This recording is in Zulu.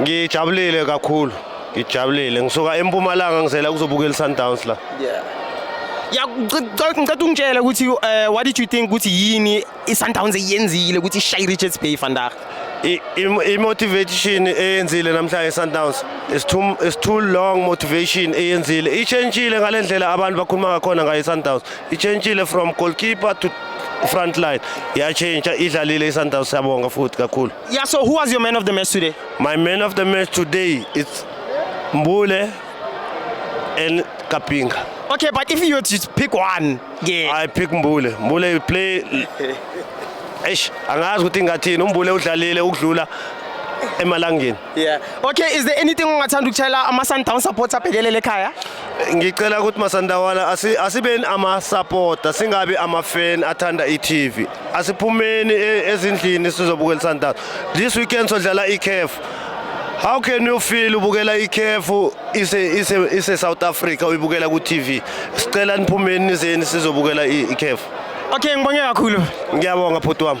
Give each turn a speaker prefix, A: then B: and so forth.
A: ngijabulile
B: kakhulu ngijabulile ngisuka empumalanga ngizela kuzobukela isundowns la
A: yeah ya ngicela ungitshele ukuthi eh, what did you think ukuthi yini isundowns eyenzile ukuthi ishaye richards bay vandag i-motivation
B: eyenzile namhlanje i-sundowns is too, is too long motivation eyenzile itshentshile ngale ndlela abantu bakhuluma ngakhona ngayo i-sundowns itshentshile from goalkeeper to front line yatshentsha idlalile i-sundowns siyabonga futhi kakhulu Yeah, so who was your man
A: of the match today? My man of the match
B: today is Mbule and Kapinga. Okay, but if you were
A: to pick one, yeah. I pick Mbule.
B: Mbule will play Eish, angazi ukuthi ngathini umbule udlalile ukudlula emalangeni. Yeah.
A: Okay, is there anything ongathanda ukushayela ama Sundowns supports abhekelele ekhaya? ngicela ukuthi
B: masandawana asibeni amasapota singabi amafeni athanda i-tv asiphumeni e, ezindlini sizobukela isundowns this weekend sodlala i-caf how can you feel ubukela i-caf ise-south africa uyibukela ku-tv sicela niphumeni nizeni sizobukela i-caf okay ngibonge kakhulu
A: ngiyabonga
B: bhuti wami